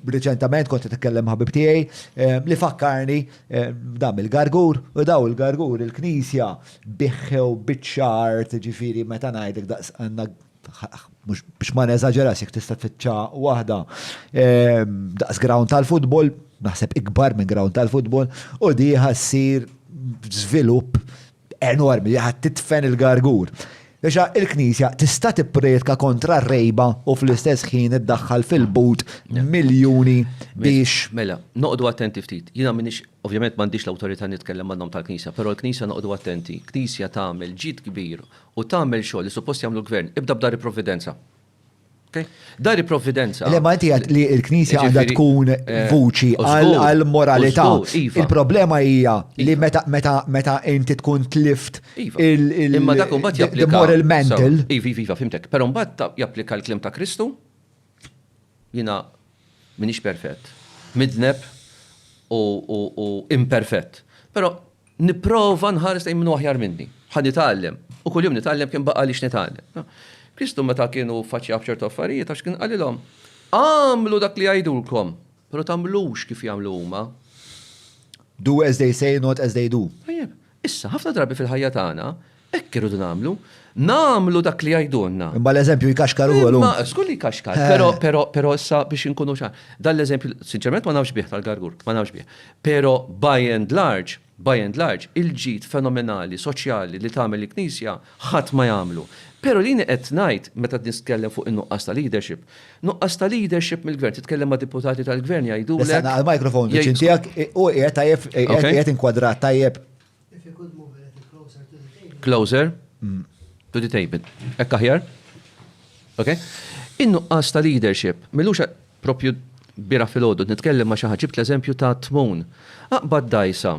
Reċentament kont qed nitkellem ħabib tiegħi li fakkarni dam il-gargur u daw il-gargur il-Knisja biħħew biċċa art ġifieri meta ngħidlek daqs għandna mhux biex ma neżaġerax jekk tista' tfittxa waħda daqs ground tal-futbol, naħseb ikbar minn ground tal-futbol, u dieħa ssir żvilupp enormi li ħa tidfen il-gargur. Biex il-Knisja tista' tipprietka kontra r-rejba u fl-istess ħin iddaħħal fil-but miljuni biex. Mela, noqogħdu attenti ftit. Jiena m'iniex, ovvjament m'għandix l-awtorità nitkellem għan-nom tal-Knisja, però l-Knisja noqogħdu attenti. Knisja tagħmel ġid kbir u tagħmel xogħol li suppost jagħmlu l-Gvern. Ibda b'dar il-Provvidenza. Dar il-provvidenza. Le Malti għad li l-Knisja għandha tkun eh, vuċi għal-moralità. Iva. Il-problema hija li iva. meta inti tkun tlift iva. il-moral mental. Iva, iva, iva, fimtek. Pero mbagħad japplika l-klim ta' Kristu. Jina minix perfett. Midneb u imperfett. Pero Nipprova nħares lejn min hu aħjar minni. Ħa nitgħallem. U kuljum nitgħallem kemm baqa' għaliex nitgħallem. Kristu meta kienu ffaċċjaw b'ċertu affarijiet għax kien qalilhom, Agħmlu dak li jgħidulkom, però tagħmlux kif jagħmlu huma. Do as they say, not as they do. Tajjeb. Issa, ħafna drabi fil-ħajja tagħna, Hekk irridu nagħmlu. Nagħmlu dak li jgħidulna. Imma l-eżempju jkaxkar ukoll, hu. Żgur li jkaxkar, però, però, però issa biex inkunu ċar. Dan l-eżempju, sinċerament ma nafx bih tal-Gargur, ma nafx bih. Però by and large, by and large, il-ġid fenomenali soċjali li tagħmel il-Knisja ħadd ma jagħmlu. Però li jiena qed ngħid, meta qed nitkellem fuq in-nuqqas ta' leadership, nuqqas ta' leadership mill-Gvern, titkellem ma' deputati tal-Gvern jgħidulek. Issa ngħaqal-microphone viċin tiegħek, hu qiegħed tajjeb, qiegħed inkwadrat tajjeb. If you could move a little closer to the table. Closer mm. to the table. Ekk aħjar? Ok? In-nuqqas ta' leadership, millux propju bira fil-ħodu, nitkellem ma xaħġib l-eżempju ta' tmun. Aqbad dajsa,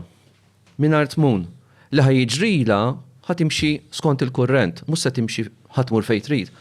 minar tmun, li ħajġrila ħatimxi skont il-kurrent, mus se timxi ħatmur fejtrit,